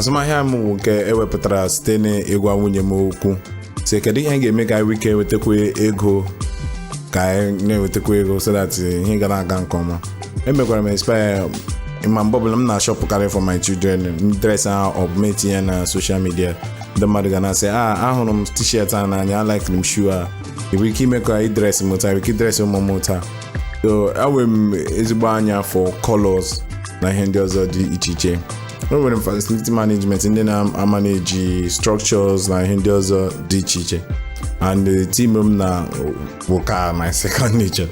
azụmahịa m wụ nke ewepụtara site n'ịgwa nwunye m okwu sị kedu ihe ga-eme ka anyị wike wetakwa ego ka anyị na-ewetakwa ego so that ihe ga na-aga nke ọma emekwara m inspire ma mgbe ọbụla m na-ashọpụkarị for my children dress ha ọ bụ m etinye na social media ndị mmadụ ga na-asị a ahụrụ m t-shirt a n'anya alikere m shoe a ị nwere ike ime ka ị dresị m taa ị nwere ike idresị ụmụ m taa so enwere m ezigbo anya for colors na ihe ndị ọzọ dị iche iche e nwere facility management ndị na-amanage structures na ihe ndị ọzọ dị iche iche and the team m na wụ ka my second nature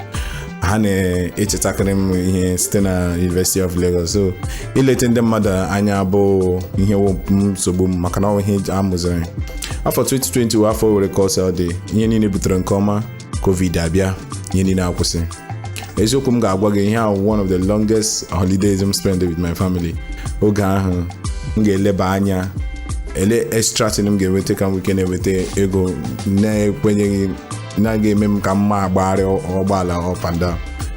ha na-echetakarị m ihe site na University of Lagos so ileta ndị mmadụ anya abụghị ihe wụ nsogbu m maka na ọ bụ ihe a mụziri afọ 2020 wụ afọ were ka o si dị ihe niile butere nke ọma covid abịa ihe niile akwụsị eziokwu m ga-agwa gị ihe a wụ one of the longest holidays m spend with my family oge ahụ m ga-eleba anya ele extra thing m ga-enweta ka m wike na-enweta ego na-ekwenyeghị na ga-eme m ka m na-agbagharị ụgbọala up and down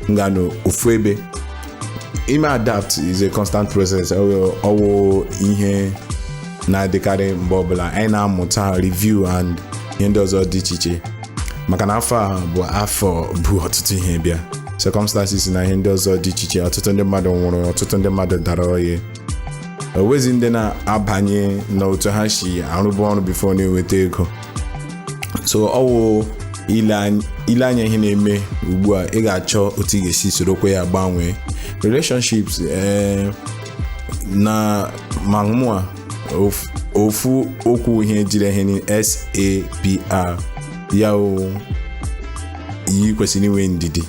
m ga-anọ ofu ebe ime adapt is a constant process ọ wụ ihe na-adịkarị mgbe ọbụla anyị na-amụta review and ihe ndị ọzọ dị iche iche maka na afọ a bụ afọ bu ọtụtụ ihe bịa circumstances na ihe ndị ọzọ dị iche iche ọtụtụ ndị mmadụ nwụrụ ọtụtụ ndị mmadụ dara ọya o wezi ndị na-abanye na otu ha si arụbu ọrụ before na-enweta ego so ọ wụ ile anya ihe na-eme ugbu a ị ga-achọ otu ị ga-esi sorokwa ya gbanwee relationships ee eh, na ma ofu okwu ihe jiri ihe ni sapr ya o anyị kwesịrị inwe ndidi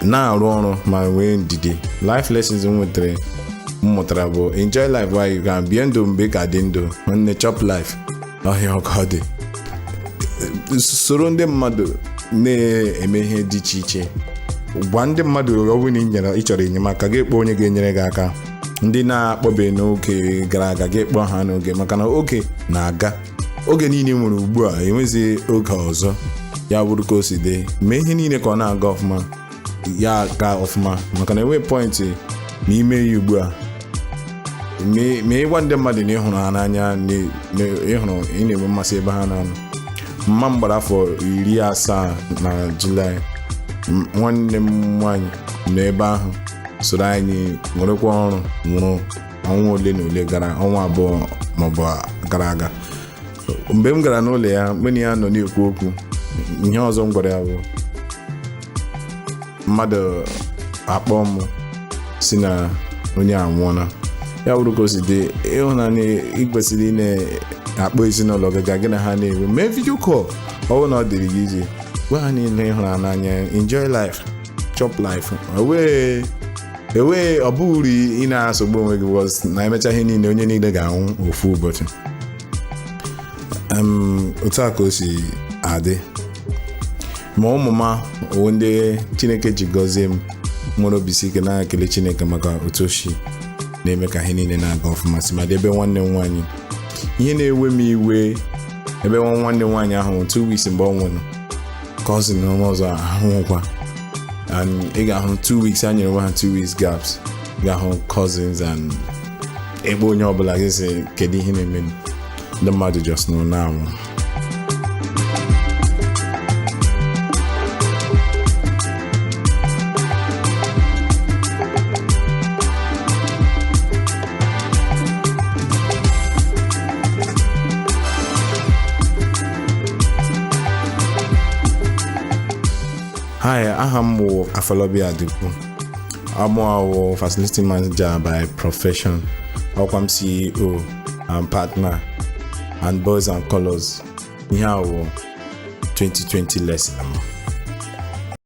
na-arụ ọrụ ma nwee ndidi life lessons m nwetara m mụtara bụ enjoy life while you can bie ndụ mgbe ị ka dị ndụ nne chop life ọ ihe a wụ ka ọ dị soro ndị mmadụ na-eme ihe dị iche iche gwa ndị mmadụ ọ bụrụ na ị nyere- ị chọrọ enyemaka gị kpọọ onye ga-enyere gị aka ndị ị na-akpọbeghị n'oge gara aga gị kpọọ ha n'oge maka na oge na-aga oge niile ị nwere ugbu a enweghịzi oge ọzọ ya bụrụ ka o si dị mee ihe niile ka ọ na-aga ọfụma ya gaa ọfụma maka na enweghị point n'ime ya ugbu a ma ịgwa ndị mmadụ na ịhụrụ ha n'anya ịhụrụ ị na-enwe mmasị ebe ha na-anọ mma m gbara afọ iri asaa na julaị nwanne m nwaanyị nọ ebe ahụ soro anyị nwerekwa ọṅụ nwụrụ ọnwa ole na ole gara ọnwa abụọ maọbụ gara aga mgbe m gara n'ụlọ ya mụ na ya nọ na-ekwu okwu ihe ọzọ m gwara ya bụ mmadụ akpọọ m sị na onye a anwụọla ya bụrụ ka o si dị ịhụnanya ị kwesịrị ị na-akpọ ezinụlọ gị ga gị na ha na-enwe mee video call ọ bụrụ na ọ dịrị gị iji gwa ha niile ịhụrụ n'anya enjoy life chop life ewee ewee ọ baghị uru ị na-esogbu onwe gị because na emecha ihe niile onye niile ga-anwụ ofu ụbọchị Em, otu a ka o si adị ma ụmụ m ọ wụ ndị chineke ji gọzie m nwere obi si ike na-ekele chineke maka otu o si na-eme ka ihe niile na-aga ọfụma tụmadị ebe nwanne m nwaanyị ihe na-ewe m iwe ebe nwa nwanne m nwaanyị ahụ nwụrụ two weeks mgbe ọ nwụrụ cousin m ọzọ anwụọkwa and ị ga-ahụ two weeks ha nyere onwe ha two weeks gaps ị ga-ahụ cousins and ebe onye ọbụla ji sị kedu ihe na-eme ndị mmadụ just nọ na-anwụ Hi, aha m wụ Afolabi Adigun. Amụ awụ facility manager by profession. Awụkwa m CEO and partner and boys and colors. Ihe a wụ 2020 lesson.